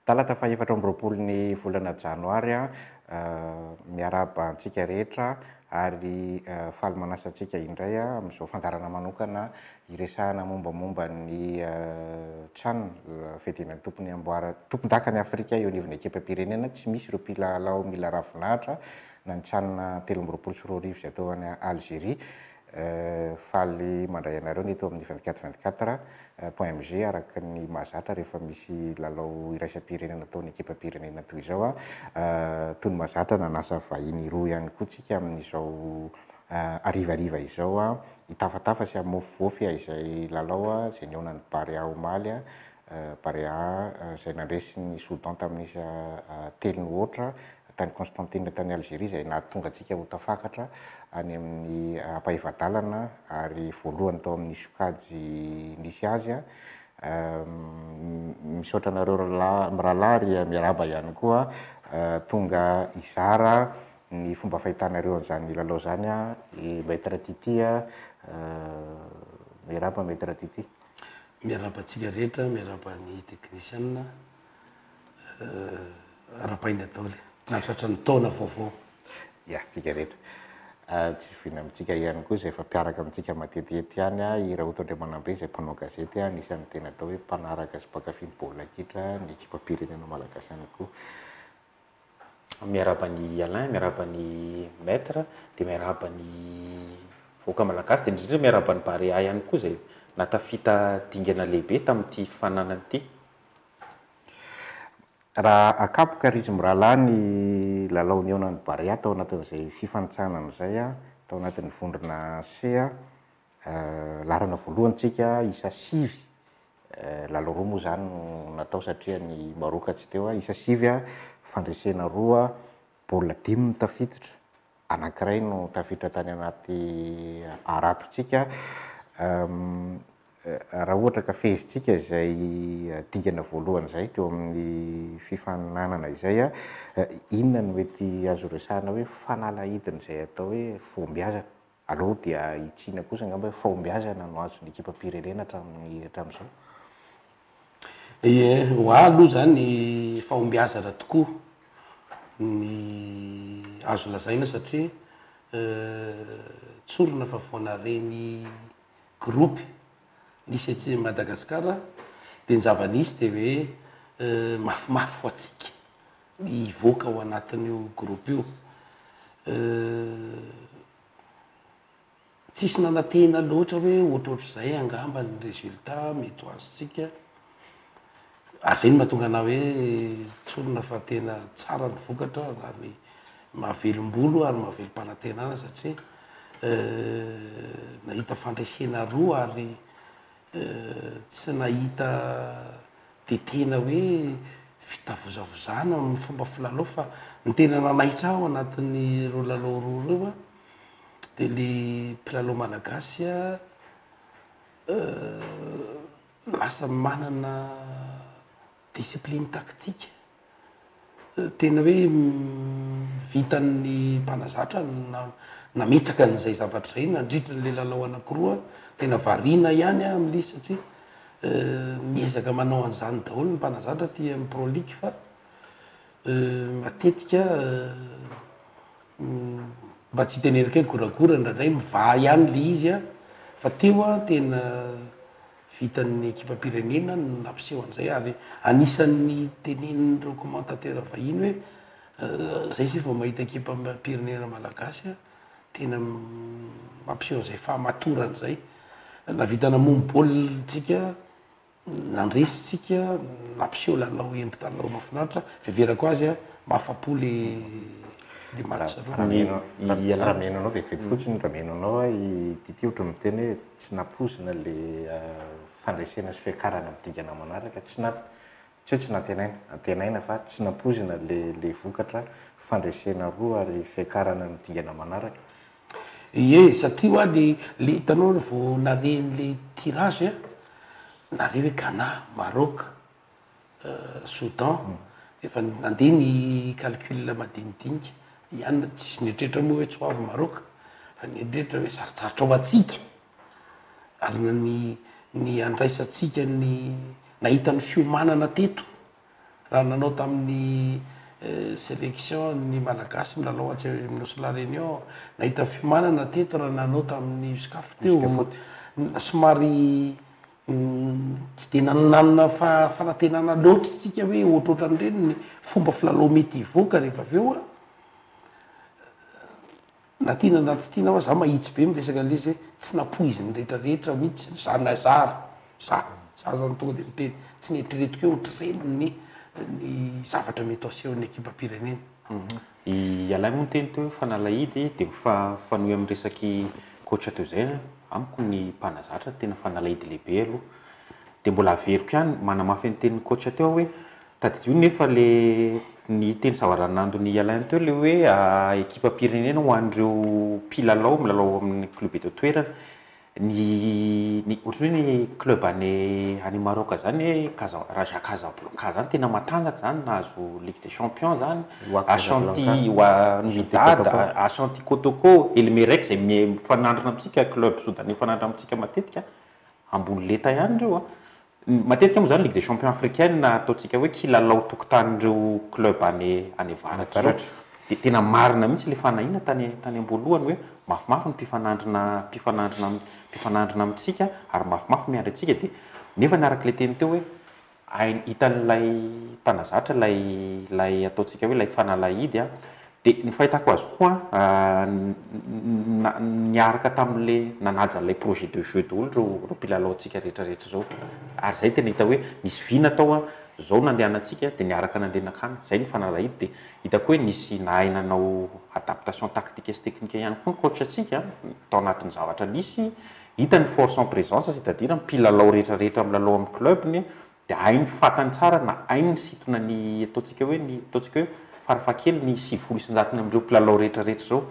Talata fahefatra amby roapolo ny volana janoary, miarahaba antsika rehetra ary faly manasa antsika indray amin'izao fandaharana manokana Iresahana mombamomba ny trano fiadiana ny tompony amboara tompondaka ny Afrika eo anivon'ny ekipam-pirenena tsy misy ireo mpilalao mila ravinahitra na ny can telo amby roapolo sy roa arivo izay atao any Algérie. Faly mandray anareo ny eto amin'ny vingt quatre vingt quatre point mg araka ny mahazatra rehefa misy lalao iraisam-pirenena ataon'ny ekipam-pirenena toy izao an! Tony mahazatra nanasa vahiny roa ihany koa tsika amin'izao harivariva izao an! Hitafatafa sy hamofofofy izay lalao izay nihaonan'ny Barea omaly. Barea izay nandresy ny Soudan tamin'ny isa telo nohoatra tany Constantine tany Algerie izay nahatonga antsika ho tafakatra any amin'ny ampahefa-dalana ary voalohany tao amin'ny sokajy nisy azy. Misaotra anareo mirahalahy ary miarahaba ihany koa tonga hizara ny fomba fahitanareo an'izany lalao izany an, Maître Tity an, miarahaba Maître Tity. Miarahaba antsika rehetra, miarahaba ny teknisiana, arahabaina daholo nahatratra ny taona vaovao. Ya, antsika rehetra. Tsy zoviana amintsika ihany koa izay efa mpiaraka amintsika matetihety ihany an, i Raoto Andriamanambe izay mpanao gazety an, anisan'ny tena atao hoe mpanaraka sy mpankafy ny baolina kitra ny ekipam-pirenena malagasy ihany koa. Miarahaba an'i Alain, miarahaba an'i Maître, dia miarahaba ny vahoaka malagasy, dia indrindra miarahaba an'i Barea ihany koa izay nahatafita dingana lehibe tamin'ity fifaninanana ity. Raha akapoka ry mirahalahy ny lalao nihaonan'ny Barea tao anatin'izay fifanintsanana izay tao anatin'ny vondrona C, Laharana voalohany tsika isa sivy, lalao roa moa zany no natao satria ny Maroc tsy teo, isa sivy fandresena roa, baolina dimy no tafiditra, anankiray no tafiditra tany anaty harato tsika, raha ohatra ka fehezintsika izay dingana voalohany izay teo amin'ny fifaninanana izay, inona no mety azo resahina hoe fanalahidin'izay atao hoe fahombiazana? Aleo dia hitsiana kosa angamba hoe fahombiazana no azon'ny ekipam-pirenena hatramin'ny hatramin'izao. Ie, ho ahy aloha izany fahombiazana tokoa ny azo lazaina satria tsorina fa vao naharegny groupe. Nisy aty Madagascar dia ny zava-nisy dia hoe mafimafy ho antsika ny hivoaka ao anatin'io groupe io. Tsisy nanantena loatra hoe ohatrohatr'izay angamba ny résultat mety ho azontsika. ary izay no mahatonga anah hoe tsorina fa tena tsara ny vokatra ary mahavelom-bolo ary mahavelom-panantenana satria nahita fandresena roa ary tsy nahita dia tena hoe fitavozavozana amin'ny fomba filalao fa ny tena nanaitra ahy ao anatin'ireo lalao roa ireo an dia ilay mpilalao malagasy an Lasa manana discipline tactique. Tena hoe vitan'ny mpanazatra ny nametraka an'izay zavatra izay nandritra an'ilay lalao anankiroa. Tena variana ihany aho amin'ilay izy satria miezaka manao an'izany daholo ny mpanazatra aty amin'ny Pro League fa matetika Mba tsy hiteneniko hoe goragora indraindray mivaha ihany ilay izy an! Fa teo an, tena vitan'ny ekipam-pirenena ny nampiseho an'izay ary anisan'ny tenenin'ireo commentateurs vahiny hoe izay isika vao mahita ekipam-pirenena malagasy an, tena mampiseho an'izay fahamatorana izay. Nahavita namono baolina isika. Nandresy tsika, nampiseho lalao endrika lalao mafinaritra, fiheverako azy a, mahafapo le le match. Rameno a, rameno anao vetivety fotsiny, rameno anao a, i Tity ohatran'ny miteny hoe tsy nampoizina le fandresena sy fiakarana amin'ny dingana manaraka, tsy na, tsy hoe tsy nantenaina, antenaina fa tsy nampoizina le le vokatra, fandresena roa ary fiakarana amin'ny dingana manaraka, Ie satria hoa le le hitanao le vao naleny le tirage a nale hoe Ghana, Maroc, Soudan efa nandeha ny calcul madinidinika ihany na tsisy nieritreritra moa hoe tsy ho avy Maroc fa nieritreritra hoe sarotsarotra ho antsika ary ny ny andraisantsika ny nahita ny fiomanana teto. Raha nanao tamin'ny selection ny Malagasy milalao atsy amin'ny Nosy La Réunion, nahita fiomanana teto raha nanao tamin'ny Uscaf teo. Somary tsy dia nanana fanantenana loatra isika hoe ohatrohatran'ireny ny fomba filalao mety hivoaka rehefa avy eo. Na tianao na tsy tianao za mahitsy be miresaka anle izy hoe tsy napoiziny rehetra rehetra mitsy ny zanany zara za za zany tonga de miteny tsy neritreretiko hoe otrreny ny ny zavatra mety ho asehon'ny ekipam-pirenena. Ialahy moa niteny teo hoe fanalahidy dia mifanohy amin'ny resaky coach teo izay amiko ny mpanazatra tena fanalahidy lehibe aloha dia mbola averiko ihany manamafy ny tenin'ny coach teo aho hoe Tadidio nefa ilay ny teny zava-ranandon'i Alain teo ilay hoe ekipam-pirenena ho an'ireo mpilalao milalao ao amin'ny club eto an-toerana. Ny ny ohatran'ny hoe ny club any any Maroc izany hoe Casa- Raja Casablanca izany tena matanjaka izany nahazo ligue des champions izany, Wak Ashanti Casablanca, wa- ny Ashanti Dada, Kotoko. Ashanti Kotoko, El Merreikh izay miha- mifanandrina amintsika, club soudanais mifanandrina amintsika matetika, ambony lenta ihany ireo an! Matetika moa izany Ligue des champions africaine ataontsika hoe kilalao tokotanin'ireo club any any avaratra ireo. Dia tena marina mihitsy ilay fanahiana tany tany am-boalohany hoe mafimafy ny mpifanandrina mpifanandrina mpifanandrina amintsika ary mafimafy miandry antsika dia nefa ny araka ilay teny teo hoe hainy hitan'ilay mpanazatra ilay ilay ataontsika hoe ilay fanalahidy a Dia ny fahitako azy koa niaraka tamin'ilay nanaja an'ilay projet de jeu daholo ireo mpilalaontsika rehetrarehetra ireo. Ary izay tena hita hoe nisy vy natao an, izao nandehanantsika dia niaraka nandeha nankany. Izay no fanarahidy dia hitako hoe nisy nahay nanao adaptation tactique sy technique ihany koa ny coach antsika tao anatin'ny zavatra nisy. Hita ny force en présence c'est-à-dire mpilalao rehetrarehetra milalao amin'ny club-ny dia hainy fantany tsara na hainy nisintona ny ataontsika hoe ny ataontsika hoe farafahakeliny ny sivifolo isanjatony amin'ireo mpilalao rehetra rehetra izao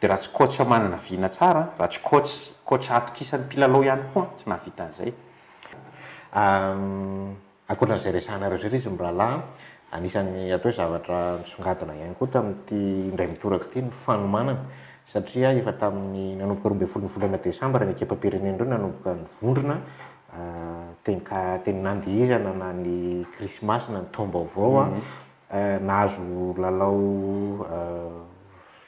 dia raha tsy coach manana vina tsara raha tsy coach coach atokisan'ny mpilalao ihany koa tsy nahavita an'izay ankoatran'izay resahanareo izay izy mirahalahy anisan'ny atao hoe zavatra nisongadina ihany koa tamin'ity indray mitoraka ity ny fanomanana satria efa tamin'ny nanomboka roa ambin'ny folo ny volana desambra ny ekipam-pirenena ireo nanomboka nivondrona Teny ka, teny nandihizana na ny krismasy na ny taom-baovao an, nahazo lalao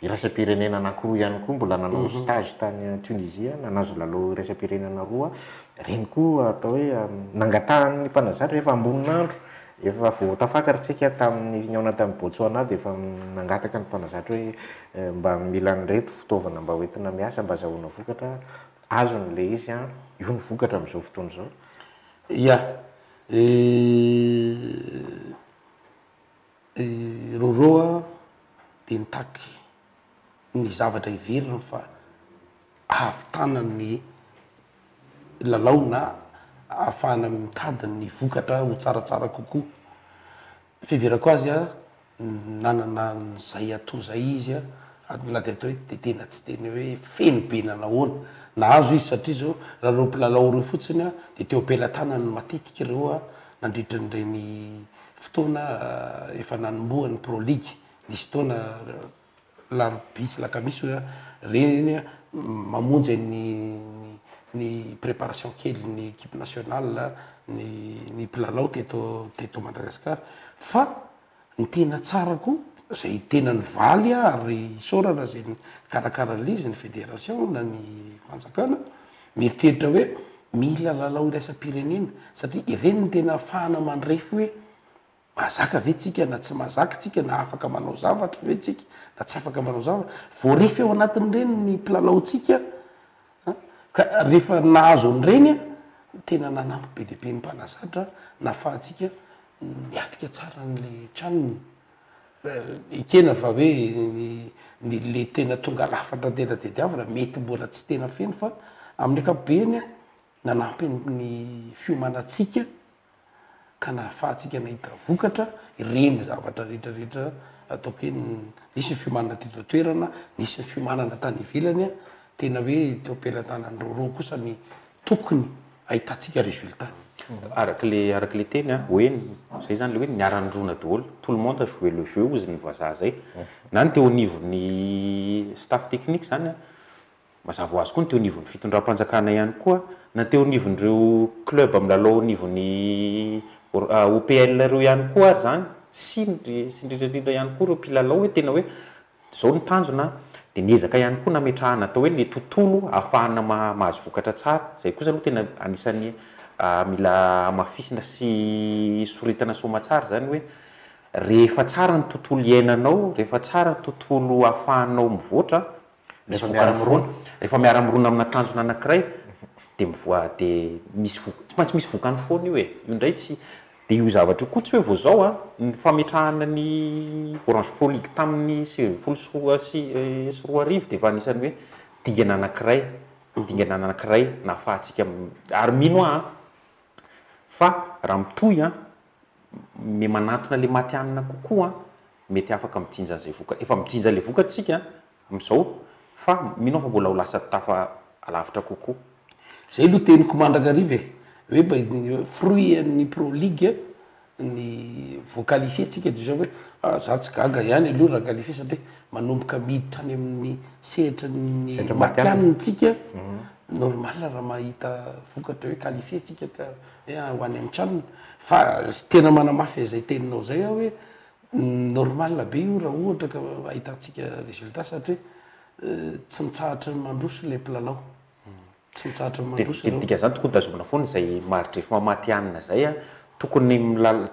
iraisam-pirenena anankiroa ihany koa, mbola nanao stage tany Tunisie aho, nahazo lalao iraisam-pirenena roa, ireny koa atao hoe nangatahan'ny mpanazatra rehefa ambonin'andro, efa vao tafakatra isika tamin'ny nihaona tany Botswana dia efa nangataka ny mpanazatra hoe mba mila an'ireto fitaovana mba hoentina miasa mba azahoana vokatra, Azony le izy an! Io no vokatra amin'izao fotoana izao. Ya! I Roro a dia nitaky ny zavatra heveriny fa ahavitana ny lalao na ahafahana mitady ny vokatra ho tsaratsara kokoa. fiheverako azy an, nanana an'izay ato izay izy an, ary na dia atao hoe dia tena tsy tena hoe feno be na nahoana, nahazo izy satria izao raha ireo mpilalao ireo fotsiny an, dia teo am-pelatanany no matetika ireo an, nandritra an'ireny fotoana efa nanombohan'ny Pro League, nisy fotoana. Lampisy na kamisy hoe reny a, mamonjy an'ny ny ny préparation kelin'ny équipe nationale ny ny mpilalao teto teto Madagasikara fa ny tena tsara koa izay tena nivaly ary isaorana izay nikarakara an'ilay izy ny fédération na ny fanjakana mieritreritra hoe mila lalao iraisam-pirenena satria ireny no tena ahafahana mandrefy hoe Mahazaka ve tsika na tsy mahazaka tsika na afaka manao zavatra ve tsika na tsy afaka manao zavatra. Voarefy ao anatin'ireny ny mpilalaontsika an! Ka rehefa nahazo an'ireny an! tena nanampy be dia be ny mpanazatra nahafahantsika niatrika tsara an'ilay tranony. Ekena fa hoe ny le tena tonga lafatra tena tadiavina mety mbola tsy tena feno fa amin'ny ankapobeny an! nanampy ny fiomanantsika ka nahafahantsika nahita vokatra ireny zavatra rehetra rehetra ataoko hoe nisy ny fiomanana teto an-toerana, nisy ny fiomanana tany ivelany, tena hoe teo am-pelatanan'ny rôrô kosa ny tokony hahitantsika résultat. Araka le araka le teny an, hoe zay zany le hoe niara-nirona daholo, tout le monde a joué le jeu ozy ny vazaha zay, na ny teo anivon'ny staff technique zany an, Mazava ho azy koa ny teo anivon'ny fitondram-panjakana ihany koa na teo anivon'ireo club milalao anivon'ny OPL ireo ihany koa ary izany sy indrindra indrindra ihany koa ireo mpilalao hoe tena hoe izao ny tanjona an, dia niezaka ihany koa nametrahana atao hoe ilay tontolo ahafahana mahazo vokatra tsara. Izay kosa aloha tena anisan'ny mila hamafisina sy soritana soamatsara izany hoe rehefa tsara ny tontolo iainanao, rehefa tsara ny tontolo ahafahanao mivoatra Rehefa miara-mirona, rehefa miara-mirona amina tanjona anankiray dia mivoa dia misy vokany, tsy maintsy misy vokany foana io e, io indray tsy dia io zavatra io koa tsy hoe vao izao an, ny fametrahana ny Orange Pro League tamin'ny sivy ambin'ny folo sy roa sy sy roa arivo dia efa anisan'ny hoe dingana anankiray, dingana anankiray nahafahantsika ary mino aho an, fa raha mitohy an, me manantona le matihanina kokoa an, mety afaka mijinja an'izay vokany, efa mijinja ilay vokany isika amin'izao fa mino aho fa mbola ho lasa tafa alavitra kokoa. Zay aloha teniko mandrakariva e, hoe mba fruit an'ny pro league ny voa qualifier tsika de zay hoe ah za tsy gaga ihany aloha raha qualifier satria manomboka miditra any amin'ny sehatry ny matihanina tsika, normal raha mahita vokatra hoe qualifier tsika. Dia ho any amin'ny tranony. Fa tena manamafy izay teninao izay aho hoe normal be io raha ohatra ka ahitantsika résultat satria tsy mitsahatra ny mandroso ilay mpilalao. Tsy mitsahatra ny mandroso ireo. Dia dikan'izany tokony tazomina foana izay maridrefy mamatihanina izay. Tokony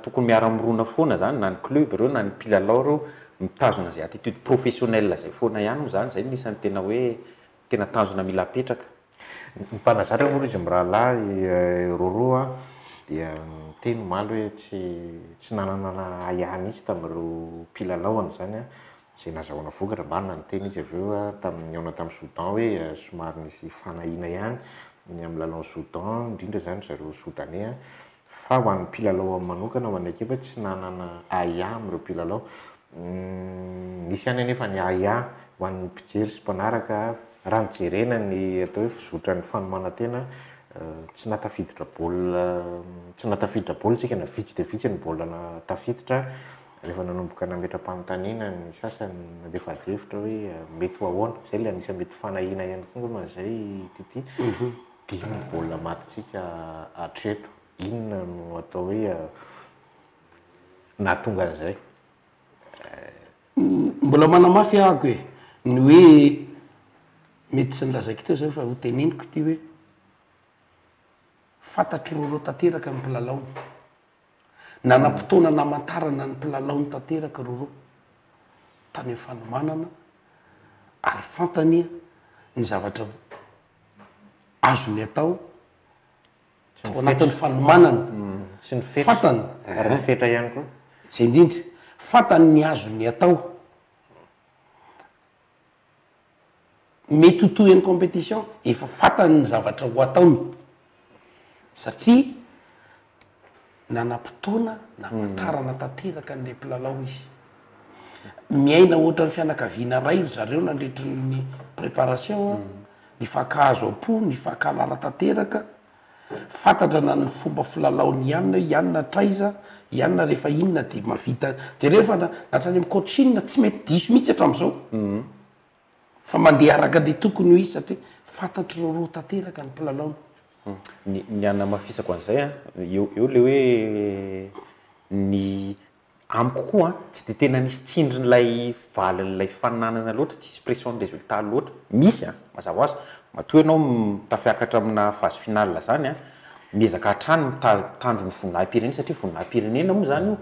tokony miara-mirona foana izany na ny club ireo na ny mpilalao ireo mitazona izay attitude professionnelle izay foana ihany moa izany. Izay no isan'ny tena hoe Tena tanjona mila apetraka. Ny mpanazatra moa izy mirahalahy roroa an, dia niteny omaly hoe tsy tsy nanana na ahiahy mihitsy tamin'ireo mpilalaony izany an, izay nazahoana vokatra, marina ny teny izy avy eo tamin'ny nihaonany tamin'i Soudan hoe somary nisy fanahiana ihany ny amin'ny lalaon'i Soudan, indrindra izany ry zareo Soudanais an, Fa ho an'ny mpilalao manokana ao amin'ny ekipa, tsy nanana ahiahy amin'ireo mpilalao. Nisy ihany anefa ny ahiahy ho an'ny mpijery sy mpanaraka raha ny jerena ny atao hoe fizotran'ny fanomanan-tena, tsy nahatafiditra baolina, tsy nahatafiditra baolina isika na vitsy dia vitsy ny baolina tafiditra rehefa nanomboka nametra-panontaniana ny sasany, nandefa adihevitra hoe mety ho ahoana. Izay ilay anisan'ny mety fanahiana ihany koa angambany izay TT. Dimy ny baolina matintsika hatreto. Inona no atao hoe nahatonga an'izay? Mbola manamafy ahako e, ny hoe mety tsy nolazaiko teo izay fa ho teneniko ity hoe fantatr'i Roro tanteraka ny mpilalaony. Nanam-potoana namantarana ny mpilalaony tanteraka i Roro tany amin'ny fanomanana ary fantany ny zavatra azony atao ao anatin'ny fanomanana, fantany, zay indrindra, fantany ny azony atao, mety ho tohin'ny competition, efa fantany ny zavatra ho ataony. Satria nanam-potoana namantarana tanteraka an'ilay mpilalao izy. Miaina ohatran'ny fianakaviana iray ry zareo nandritry ny préparation a, nifankahazo am-po, nifankahalala tanteraka, fantantrana ny fomba filalaon'i Yann hoe Yann hatraiza, Yann rehefa inona dia mahavita, jereo fa na hatrany amin'ny coaching tsy mety diso mihitsy hatramin'izao. Fa mandeha araka ny tokony ho izy satria fantatr'i Roro tanteraka ny mpilalaony. Ny ny hanamafisako an'izay a, eo eo ilay hoe ny amiko koa a, tsy dia tena nisy tsindrin'ilay valin'ilay fifaninanana loatra, tsy nisy pression-n'ny résultat loatra. Misy a, mazava ho azy, matoa ianao tafiakatra aminà phase finale izany a, miezaka hatrany mita- mitandro ny voninahi-pirenena satria voninahi-pirenena moa izany io.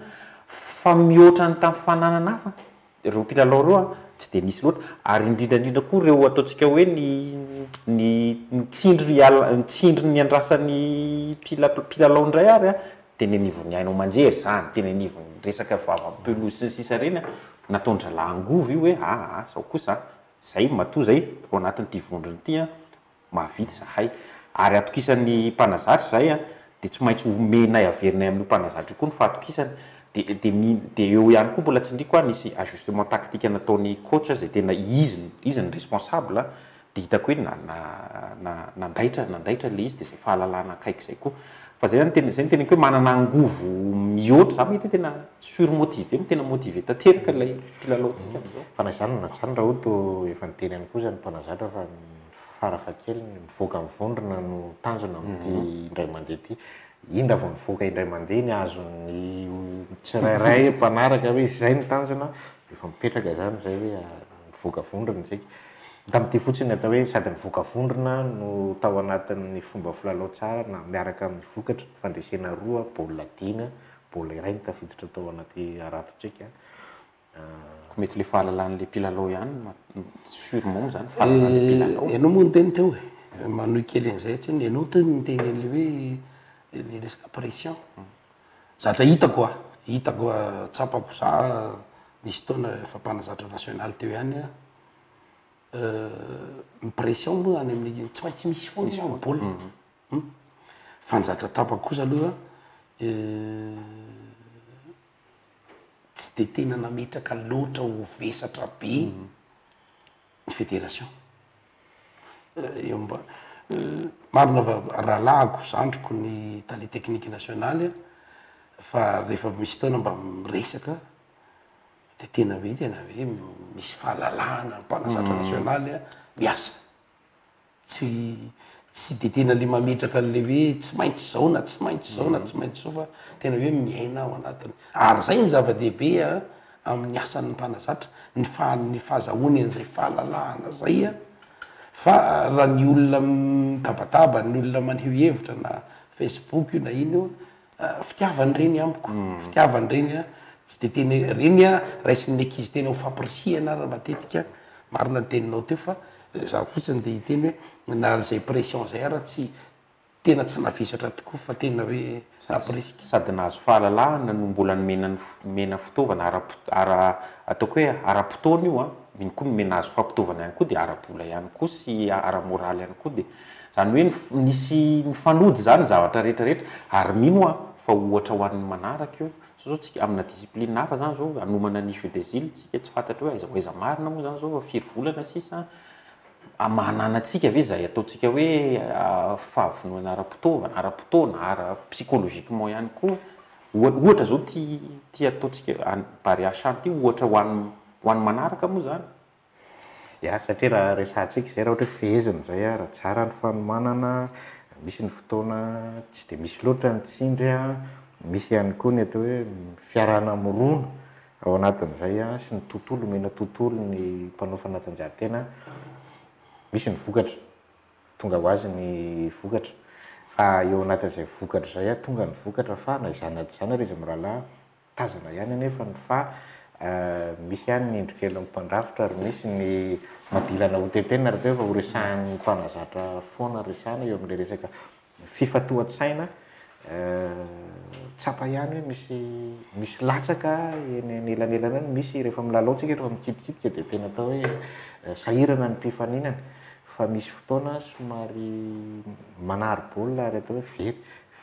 Fa mihoatra ny tamin'ny fifaninanana hafa, Ireo mpilalao ireo an, tsy dia misy loatra, ary indrindra indrindra koa ireo ataontsika hoe ny ny ny tsindry hiala ny tsindry niandrasan'ny mpila mpilalao indray ary an, teny anivon'ny haino aman-jery izany, teny anivon'ny resaka vava amin'ny pelouse sy ny sisa ireny an, nataon-dRalahy angovo io hoe aa izao kosa an, izay matoa izay ao anatin'ity vondrona ity an, mahavita izahay, ary atokisan'ny mpanazatra izahay an, dia tsy maintsy omenay averinay amin'io mpanazatra io koa ny fahatokisany, dia dia mi dia eo ihany koa mbola tsindriako an, nisy ajustement tactique nataon'ny coach izay tena izy izy no responsable an, dia hitako hoe na na na nandaitra nandaitra ilay izy, dia izay fahalalana akaiky izay koa, fa izay zany tena izay no teneniko hoe manana angovo mihoatra, izaho mety hoe tena surmotivé no tena motivé tanteraka ilay mpilalao antsika amin'izao. Fa na izany na izany raha ohatra efa niteny ihany koa izany mpanazatra fa. fara fahakeliny mivoaka ny vondrona no tanjona amin'ity indray mandeha ity. Iny raha vao nivoaka indray mandeha ny azon'ny tsirairay mpanaraka hoe izay ny tanjona dia efa mipetraka izany izay hoe mivoaka vondrona isika. Hita amin'ity fotsiny ny atao hoe sady mivoaka vondrona no tao anatin'ny fomba filalao tsara na miaraka amin'ny vokatra, fandresena roa, baolina dimy, baolina iray no tafiditra tao anaty harato-tsika. Ko mety le fahalalany le mpilalao ihany no sur mom zany fahalalany le mpilalao. Ianao moa niteny teo e, manohy kely an'izay tsiny, ianao teo no niteny an'le hoe le resaka pression. Zatra hitako a, hitako a, tsapako za nisy fotoana efa mpanazatra national teo ihany a, ny pression moa any amin'ny, tsy maintsy misy foana eo amin'ny baolina a. Fa ny zatra tsapako kosa aloha. tsy dia tena nametraka loatra ho vesatra be ny federation. Eo mba marina fa rahalahiko, zandriko ny tale teknika nasionaly fa rehefa misy fotoana mba miresaka dia tena hoe tena hoe misy fahalalahana ny mpanazatra nasionaly miasa. tsy tsy de tena le mametraka an'le hoe tsy maintsy zao na tsy maintsy zao na tsy maintsy zao fa tena hoe miaina ao anatiny ary zay ny zava-dehibe a amin'ny asan'ny mpanazatra ny faha- ny fahazahoany an'izay fahalalahana zay a fa raha ny olona mitabataba ny olona maneho hevitra na facebook io na ino io. Fitiavany reny amiko, fitiavany reny a, tsy de tena hoe reny a, raisin'ny ankizy tena ho fampirisihana ary matetika, marina ny teninao teo fa za fotsiny de hiteny hoe na zay pression zay ary tsy, tena tsy navesatra tokoa fa tena hoe nampirisika. Sady nahazo fahalalahana no mbola nomena ny fo- nomena fitaovana ara-pot- ara- ataoko hoe ara-potoana io an, mino koa ny me- nahazo fampitaovana ihany koa de ara-bola ihany koa sy ara-moraly ihany koa de. Izany hoe nisy mifanody izany ny zavatra rehetra rehetra ary mino aho fa ohatra ho an'ny manaraka io, sao zao tsika amina discipline hafa izany izao hanomana ny jeux des îles tsika tsy fantatro hoe aiza ho aiza marina moa izany izao fa firy volana sisa an, maha anana antsika ve izay ataontsika hoe fahavononana ara-potoana, ara-potoana, ara psychologiquement ihany koa, ohatra izao ity ity ataontsika any Barea Shanty ity ohatra ho an'ny ho an'ny manaraka moa izany. Ya satria raha resahantsika izay raha ohatra hoe fehezina izay a, raha tsara ny fanomanana, misy ny fotoana tsy dia misy loatra ny tsindry a, misy ihany koa ny atao hoe fiarahana mirona ao anatin'izay a, sy ny tontolo, omena tontolo ny mpanao fanatanjahantena a, misy ny vokatra, tonga ho azy ny vokatra, fa eo anatin'izay vokatra izay a, tonga ny vokatra fa na izany na tsy izany ary izy mirahalahy Tazana ihany anefa ny fa misy ihany ny indro kelin'ny mpandrafitra ary misy ny madilana hotetehina rahateo fa horesahan'ny mpanazatra foana resahana eo amin'ilay resaka fifantohan-tsaina. Tsapa ihany hoe misy misy latsaka eny anelanelana eny, misy rehefa milalao tsika rehefa mikitikitika dia tena atao hoe sahirana ny mpifaninana fa misy fotoana somary manary baolina ary atao hoe very.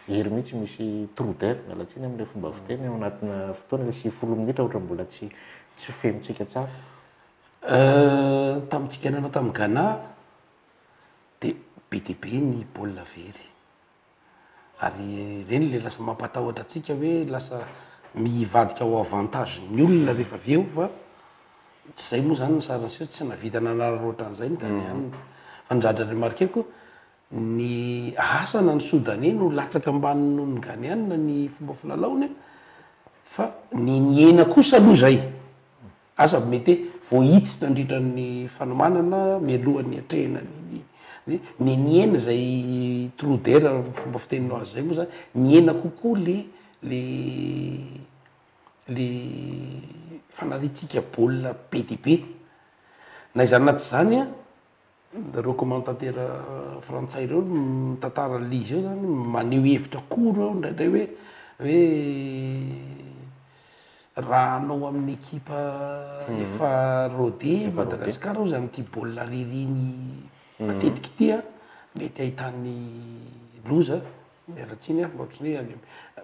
Very mihitsy misy trou d'air, miala tsiny amin'ilay fomba fiteny, ao anatina fotoana ilay sivifolo minitra ohatra mbola tsy tsy fenotsika tsara. Euh, tamintsika nanao tamin'i Ghana dia be dia be ny baolina very. Ary ireny ilay lasa mampatahotra antsika hoe lasa mivadika ho avantage-n'ny olona rehefa avy eo fa tsy izay moa izany ny sarin'ny seho, tsy nahavita nanararaotra an'izay ny Ghanéens. Fa ny zatra remarquer-ko, Ny asa na ny Sodaney no latsaka ambany noho ny Ghaneana ny fomba filalaony fa ny nihena kosa aloha izay asa mety hoe voahitsy nandritra ny fanomanana mialoha ny atrehina ny ny ny nihena izay trou d'air fomba fiteninao azy izay moa zany nihena kokoa le le le fanariantsika baolina be dia be na izany na tsy izany an. Dokmantantera frantsay ireo mitantara an'ilay izy eo zany maneho hevitra koa ireo indraindray hoe hoe raha anao amin'ny ekipa mhm. efa rode Madagasikara ozy amin'ity baolina ririny mhm. matetika ity a mety ahitany loza miaratsiny a ohatrany hoe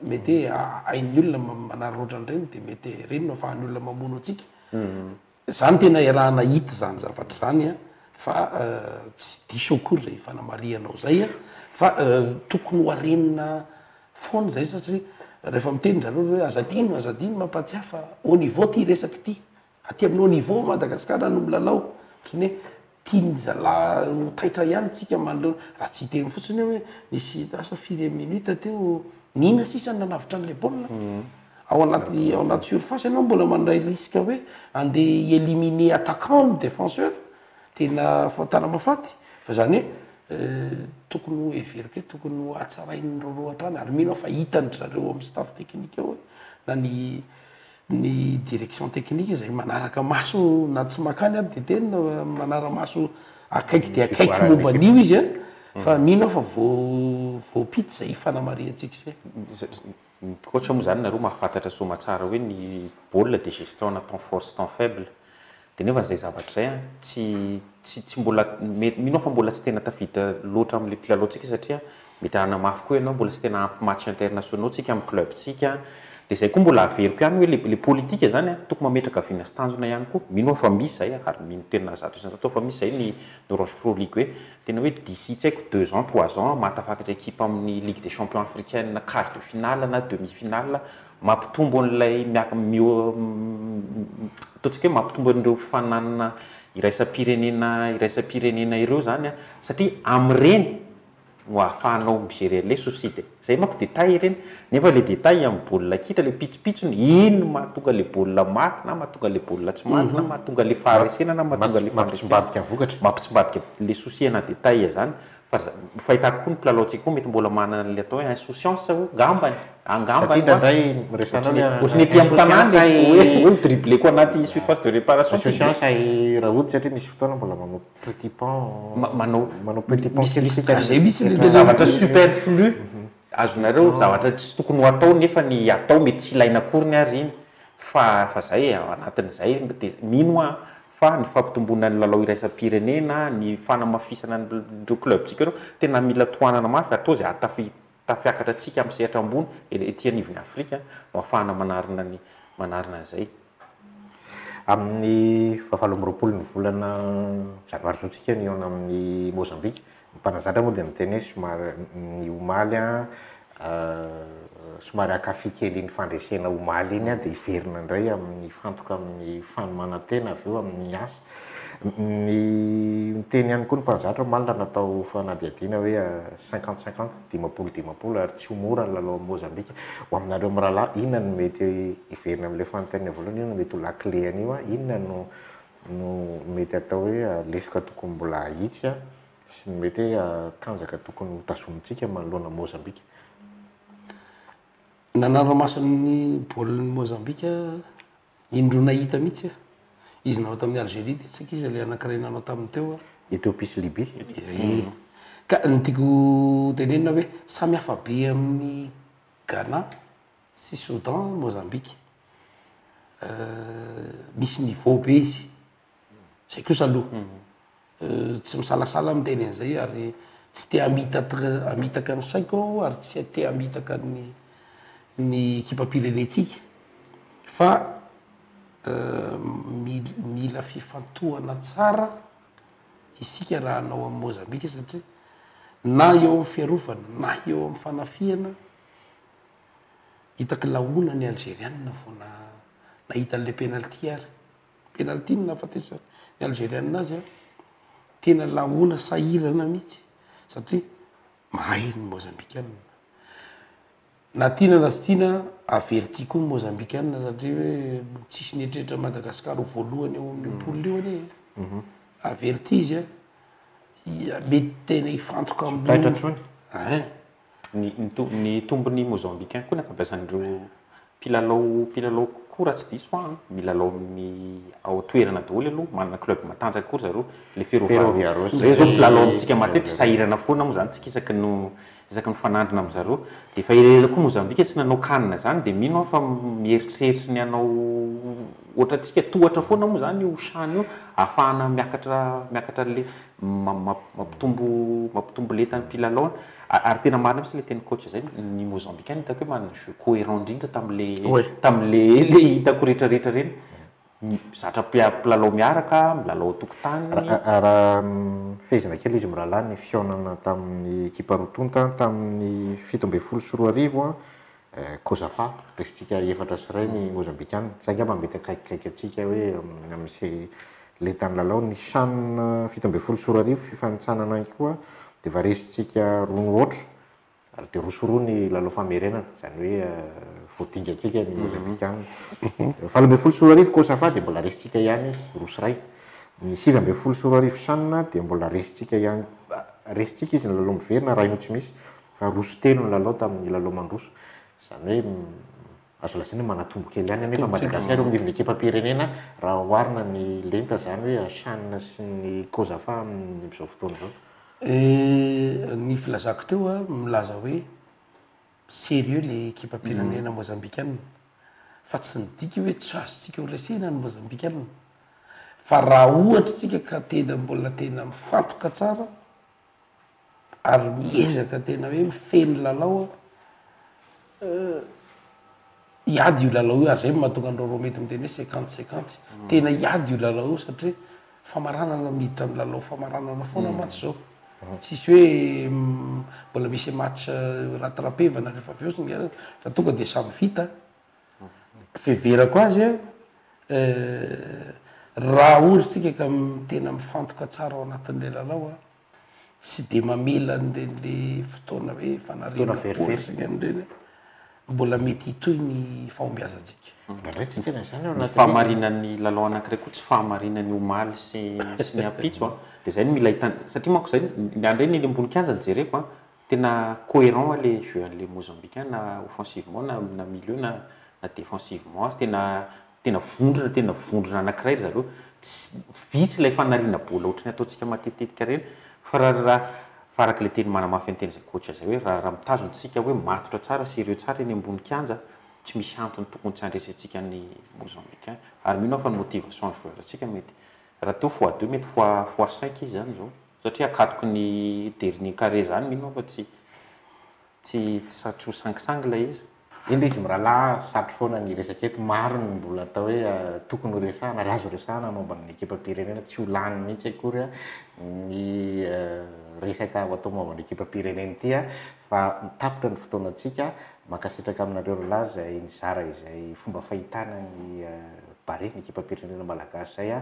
mety hoe hain'ny olona manararaotra an'ireny dia mety ireny no afahan'ny olona mamono antsika mhm. Za no tena iaraha nahita izany zavatra izany a, fa tsy diso akory izay fanamarihanao izay a, fa tokony ho arenina foana izay satria rehefa miteny zareo hoe aza adino aza adino mampahatsiahy fa au niveau ity resaka ity, aty aminao niveau Madagasikara no milalao, ohatran'ny hoe Tian'ny zalahy ho taitra ihany tsika manoloana, raha tsy hiteny fotsiny hoe nisy lasa firy minutes teo, n'ina sisa no nanavotra an'ilay baolina? Ao anaty ao anaty surface ianao mbola mandray risque hoe andeha hi-eliminer attaquant ny défenseur, tena fahotana mahafaty fa izany hoe tokony ho heveriko hoe tokony ho hatsarain'ny roa roa hatrany ary mino aho fa hitan-dry zareo ao amin'ny staff technique ao na ny ny direction technique izay manaraka maso na tsy makany ary dia tena manara maso akaiky dia akaiky momba an'io izy an mm. fa mino aho fa voampita izay fanamarihantsika izay koatra moa izany nareo mahafantatra soa matsara hoe ny baolina dia gestion na temps fort sy temps faible Dia nefa izay zavatra izay an, tsy, tsy, tsy mbola, mety, mino aho fa mbola tsy tena tafiditra loatra amin'ilay mpilalaontsika satria mety hanana mafy koa ianao, mbola tsy tena ampy matchs internationaux tsika amin'ny club-tsika an, dia izay koa mbola averiko ihany hoe ilay, ilay politika izany an, tokony mametraka vina sy tanjona ihany koa, mino aho fa misy izay an, ary mino tena zato isan-jato aho fa misy izay ny, ny Rochereau League hoe, tena hoe d'ici tsy haiko deux ans, trois ans, mahatafakatra équipe amin'ny Ligue des Champions Africaine quart de finale na demi finale Mampitombo an'ilay miaka mio ataontsika hoe mampitombo an'ireo fananana iraisam-pirenena iraisam-pirenena ireo izany an, satria amin'ireny no ahafahanao mi-gerer an'ilay soucis de, izay manko détails ireny, nefa ilay détails amin'ny baolina kitra, ilay pitsopitsony, iny no mahatonga an'ilay baolina maty na mahatonga an'ilay baolina tsy maty na mahatonga an'ilay faharesena na mahatonga an'ilay faharesena, mampitsimbadika vokatra, mampitsimbadika ilay soucis ana détails izany, Fa za, fahitako koa ny mpilalaontsika koa mety mbola manana an'ilay atao hoe insouciance o, angambany, angambany Satria indraindray miresahana Ohatry ny, hoe ohatry ny ety amin'ny tanàna insouciance e, hoe, ahy- hoe mi-dribbler-ko anaty surface de réparation ity dia. Insouciance ahy Rahoto satria misy fotoana mbola manao petit pont, Ma- manao, manao petit pont misy, kely misy sika trajet misy le- le- zavatra superflu azonareo, zavatra tsy tokony ho atao nefa ny atao mety tsy ilaina akory ny ary iny, fa, fa zay e, ao anatin'izay dia mino aho, fa ny fampitomboana ny lalao iraisam-pirenena, ny fanamafisana an'ireo club-tsika ireo, tena mila tohanana mafy ary toa izay hahatafita tafiakatra antsika amin'ny sehatra ambony ety anivon'ny Afrika no hahafahana manarina ny manarina an'izay. Amin'ny fahavalo amby roapolo ny volana janoary izao isika no hihaona amin'i Mozambika, Ny mpanazatra moa dia miteny hoe somary, ny omaly an, somary akafy kely iny fandresena omaly iny dia hiverina indray amin'ny hifantoka amin'ny fanomanan-tena avy eo amin'ny asa. Ny niteny ihany koa ny mpanazatra omaly raha natao fanadihadiana hoe cinquante cinquante, dimampolo dimampolo, ary tsy ho mora ny lalao amin'i Mozambika. Ho aminareo mirahalahy, inona no mety hiverina amin'ilay fanontaniana voalohany, inona no mety ho lakile an'io an, inona no no mety atao hoe lesoka tokony mbola ahitsy sy ny mety hoe tanjaka tokony hotazomintsika manoloana an'i Mozambika? Nanara-maso ny baolin'i Mozambika indroa nahita mihitsy aho. Izy nanao tamin'i Algérie dia tsy ankizy ilay anankiray nanao taminy teo. Ethiopie sy Libye. Ehe. Ka ny tiako tenenina hoe samy hafa be amin'ny Ghana. sy Soudan, Mozambique. Misy niveau be izy. Izay kosa aloha. Tsy misalasala aho miteny an'izay ary tsy te hamitaka ny saiko aho ary tsy te hamitaka ny ny ekipam-pirenentsika fa mila fifantohana tsara isika raha hanao amin'i Mozambique satria na eo amin'ny fiarovana na eo amin'ny fanafihana Hitaky laona ny Algeriana vao nahita an'ilay penalty ary. Penalty no nahafatesan'ny Algeriana azy an. Tena laona sahirana mihitsy satria mahay ny Mozambikana. Na tiana na tsy tiana, averti koa ny Mozambikana satria hoe tsisy nieritreritra an'i Madagasikara ho voalohany eo amin'io poule io anie e. Averti izy an. Mety tena hifantoka amin'ny. Tsy ho taitra intsony. Ein. Ny, ny, ny tombony Mozambicain koa ny ankabeazan'ireo mpilalao, mpilalao kokoa raha tsy diso aho an, milalao amin'ny ao toerana daholo aloha, manana club matanjaka koa ry zareo, le Ferrovia Ferrovia Rossa, ireo izao mpilalao amintsika matetika, sahirana foana moa izany tsika isaky no, isaky ny mifanandrina amin-dry zareo, dia efa elaela koa Mozambika tsy nanao can izany, dia mino aho fa mieritreritry ny hanao ohatrantsika, tohatra foana moa izany io can io, ahafahana miakatra, miakatra an'ilay, mampitombo mampitombo lenta ny mpilalao an, ary tena marina mintsy le teny coach zay, ny mozambicain hitako hoe manana jeu coherent indrindra tamle tamle le hitako rehetra rehetra reny, zatra mpilalao miaraka, milalao an-tokotany, raha raha fehezina kely izy mirahalahy ny fihaonana tamin'ny ekipa roa tonta tamin'ny fito ambin'ny folo sy roa arivo an, Eh, Kozafa, raisintsika efatra sy iray ny Mozambikana. Izay angamba mety akaikikaiky antsika hoe amin'ny se lentan'ny lalao. Ny chan fito ambin'ny folo sy roa arivo fifanintsanana ihany koa dia efa raisintsika roa mihoatra ary dia roa sy roa ny lalao famerenana. Izany hoe vao dinga antsika ny Mozambikana. Valo ambin'ny folo sy roa arivo Kozafa dia mbola raisintsika ihany izy, roa sy iray. Ny sivy ambin'ny folo sy roa arivo chan dia mbola raisintsika ihany, raisintsika izy ny lalao miverina raha io tsy misy. Raha roso telo ny lalao tamin'ny lalao mandroso, izany hoe azo lazaina hoe manatombo kely ihany anefa Madagasikara eo amin'ny nivon'ny ekipam-pirenena raha oharina ny lenta izany hoe Chan sy ny Cosafa amin'izao fotoana izao. Ny filazako teo aho milaza hoe sérieux ilay ekipam-pirenena Mozambikana fa tsy midika hoe tsy azontsika horesena ny Mozambikana fa raha ohatra isika ka tena mbola tena mifantoka tsara ary miezaka tena hoe mifehy ny lalao aho hiady io lalao io ary zay no mahatonga an'i Roro mety miteny hoe cinquante cinquante, tena hiady io lalao io satria famaranana miditra amin'ny lalao famaranana foana mantsy izao, tsisy hoe mbola misy match rattrapevana rehefa avy eo singlet fa tonga dia samy vita. fiheverako azy an, raha ohatra tsika ka tena mifantoka tsara ao anatin'ilay lalao an, tsy dia mamela an'ireny le fotoana hoe fanariana bola sy ny an'ny ireny an, mbola mety hitohy ny fahombiazantsika. Indraindray tsy tena izany ao anatin'io. Fahamarinan'ny lalao anankiray koa tsy fahamarinany omaly sy sy ny ampitso an, dia izay no mila hitandrina satria manko izay, ny an'ireny eny ambony kianja no jereko an, Tena coherent an le jeu an le Mozambique an na offensivement na na milieu na na defensivement ary tena tena vondrona tena vondrona anakiray ry zareo tsy vitsy lay fanariana bola ohatrany ataontsika matetitetika reny fa ra ra fa araka le teny manamafy anteny zay coach zay hoe ra ra mitazona tsika hoe matotra tsara serieux tsara eny ambony kianja tsy misy antony tokony tsy andresentsika ny Mozambique an ary mino aho fa ny motivation ny joueur tsika mety ra teo fois deux mety fois fois cinq izy zany zao. Satria akatoky ny dernier carré izany mino aho fa tsy tsy tsy satro sangisangy ilay izy. Eny re izy mirahalahy a, satro foana ny resaka eto, maro ny mbola atao hoe tokony ho resahana ary azo resahana momba ny ekipam-pirenena, tsy ho lany mihitsy akory ny resaka ho atao momba ny ekipam-pirenena ity fa tapitra ny fotoanantsika, mankasitraka aminareo roalahy izay nizara izay fomba fahitana ny Barea, ny ekipam-pirenena malagasy izay.